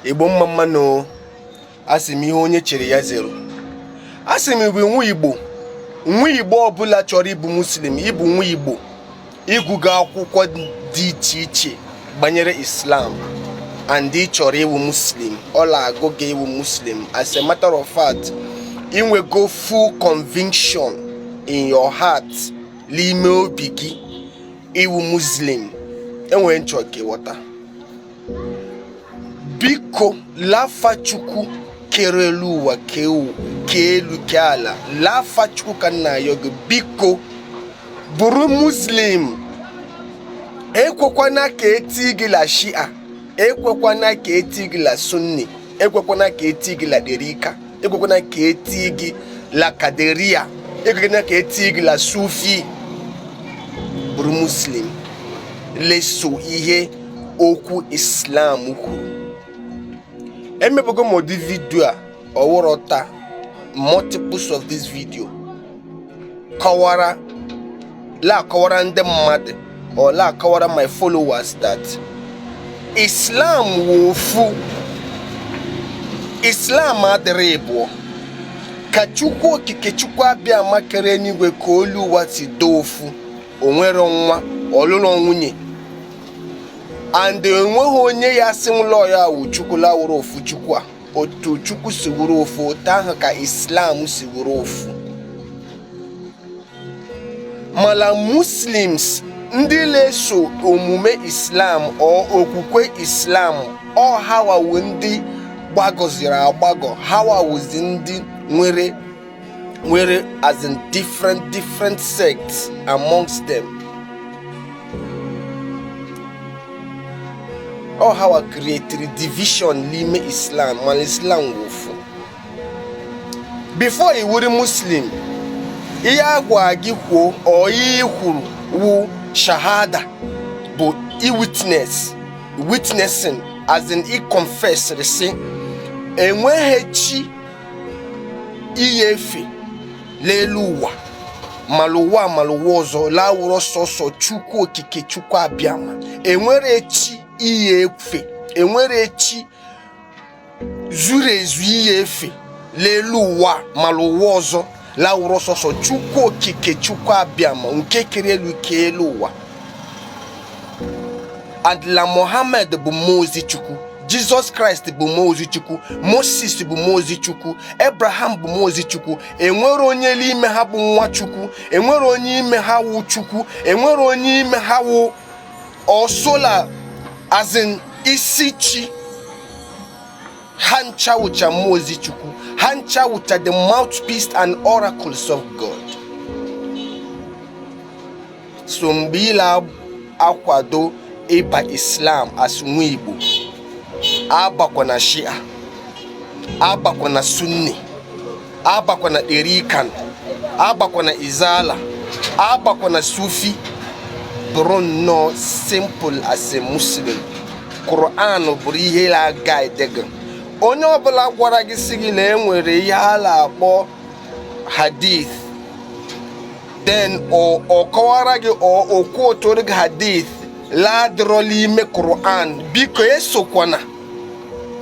igbo mma mma nụ asị m ihe onye chiri ya zere o asị m bụ nwa igbo nwa igbo ọbụla chọrọ ịbụ muslim ịbụ nwa igbo ịgụgo akwụkwọ dị iche iche gbanyere islam and ị chọrọ ịwụ muslim ọ la-agụ gị ịwụ muslim as a matter of fact inwego full conviction in your heart n'ime obi gị ịwụ muslim enwere ihe m chọ ka ịghọta biko l'afa chukwu kere elu ụwa kee elu kee ala l'afa chukwu ka m na-ayọ gị biko bụrụ muslim ekwekwana ka etie gị la shia ekwekwana ka etie gị la sunni ekwekwana ka etie gị la darika ekwekwana ka etie gị la qadiriyya ekwekwana ka etie gị la sufi bụrụ muslim la-eso ihe okwu islam kwuru emebugo m ụdị video a ọ wụrọ taa multiples of this video kọwara la-akọwara ndị mmadụ or la-akọwara my followers that Islam wụ ofu Islam adịrọ ịbụọ ka Chukwu okike Chukwu abịama kere eluigwe kee elu ụwa si dị ofu o nwero nwa ọ lụrọ nwunye and enweghị onye ya asị nwụlọ ya wụ Chukwu la-awụrọ ofu Chukwu a otu chukwu si wụrụ ofu otu ahụ ka islam si wụrụ ofu mala muslims ndị la-eso omume islam or okwukwe islam ọ hawa wụ ndị gbagọziri agbagọ hawa wụzi ndị nwere nwere as in different different sects amongst them ọ hawa creatiri division n'ime islam mana islam wụ ofu before ị wụrụ muslim ihe agwa gị kwuo or ihe i kwuru wụ shahada bụ i witness witnessing as in i confess sị enweghị chi i ya-efe l'elu ụwa ma l'ụwa ma l'ụwa ọzọ la-awụrọ sọsọ chukwu okike chukwu abịama enwero chi i ya-efe enwero chi zuru ezu i ya-efe l'elu ụwa ma l'ụwa ọzọ lawụrụ sọsọ chukwu okike chukwu abịama nke kere elu ke elu ụwa and la mohammed bụ mmụọ ozi chukwu jizọs kraịst bụ mmụọ ozi chukwu moses bụ mmụọ ozi chukwu ebraham bụ mmụọ ozi chukwu enwere onye l'ime ha bụ nwa chukwu enwere onye ime ha wụ chukwu enwere onye ime ha wụ ọsola as in isi chi ha ncha wụcha mmụọ ozi chukwu ha ncha wụcha the mouthpiece and oracles of god so mgbe ị la-akwado ịba islam as nwa igbo abakwa na shia abakwa na sunni abakwa na darikan abakwa na izala abakwa na sufi bụrụ nnọọ simple as a muslim Quran bụrụ ihe la-aguide gị onye ọbụla gwara gị sị gị la enwere ihe a la-akpọ hadith then ọ kọwara gị o quotooro gị hadith la-adịrọ l'ime Quran biko esokwana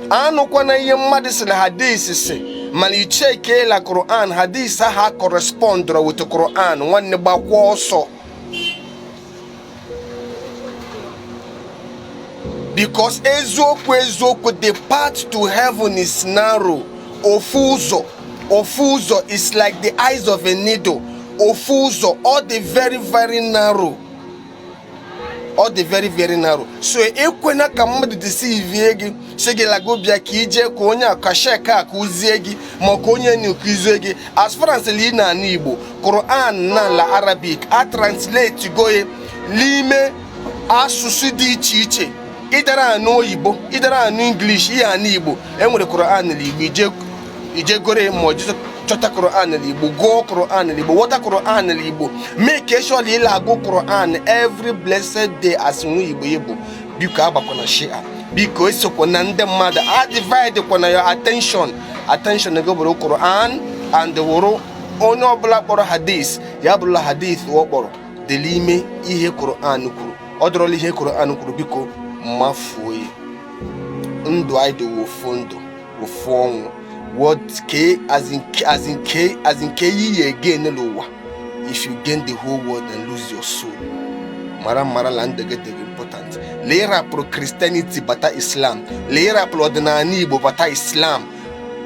anụkwana ihe mmadụ sị na hadith sị mana i checkie la Quran hadith ahụ acorrespondụrọ with Quran nwanne gbakwa ọsọ because eziokwu eziokwu the path to heaven is narrow ofu ụzọ ofu ụzọ is like the eyes of a needle ofu ụzọ ọ dị very very narrow ọ dị very very narrow so ekwena ka mmadụ deceive gị sị gị la gụ bịa ka i je ka onye a ka sheikh a kuzie gị maka onye nkuzi gị as far as lee na ala igbo Quran na la Arabic a translate go ye l'ime asụsụ dị iche iche ị dara anụ oyibo ị dara anụ English ị ya anụ igbo enwere Quran na igbo i je i je goro ya ma jizọ chọta Quran n'Igbo gụọ Quran n'Igbo wọta Quran n'Igbo make sure l'ị la-agụ Quran every blessed day as nwa Igbo Igbo biko abakwana shia biko esokwa na ndị mmadụ adivide kwana your attention attention gị bụrụ Quran and wụrụ onye ọbụla kpọrọ hadith ya bụrụ la hadith ọ kpọrọ dị l'ime ihe Quran kwuru ọ dịrọ la ihe Quran kwuru biko mafuo ya ndụ anyị dị wụ ofu ndụ ofu ọnwụ what ke as in ke as in ke as in ke ihe ị ya-again l'ụwa if you gain the whole world and lose your soul mara mara la ndụ gị dị gị important la ị rapụrụ christianity bata islam la ị rapụrụ ọdịnala igbo bata islam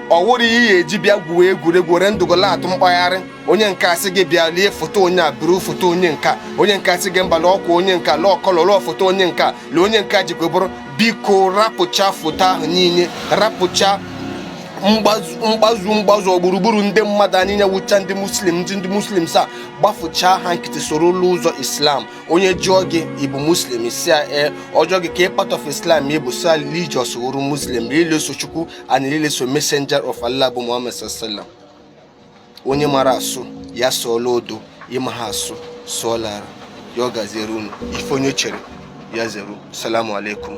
ọ wụrọ ihe eji bịa gwuo egwuregwu were ndụ gụ la-atụ mkpagharị onye nke a sị gị bịa lee foto onye a buru foto onye nka onye nke a sị gị mba na ọkwa onye nka lụọ kọlọ lụọ foto onye nka lee onye nke jikwa bụrụ biko rapụcha foto ahụ niile rapụcha mgbazu mgbazu gburugburu ndị mmadụ anyị niile wụcha ndị muslim ndị ndị muslim sa gbafụchaa ha nkịtị soro ụlọ ụzọ islam onye jụọ gị ị bụ muslim ị sị ya ee ọ jụọ gị kee part of islam ị bụ sị ya religious wụrụ muslim religious chukwu and religious messenger of allah bụ muhammad sallallahu onye mara asụ ya sụọ l'odo ị maha asụ sụọ l'ala ya ọ gaziere unu ife onye chere ya zere salamu alaikum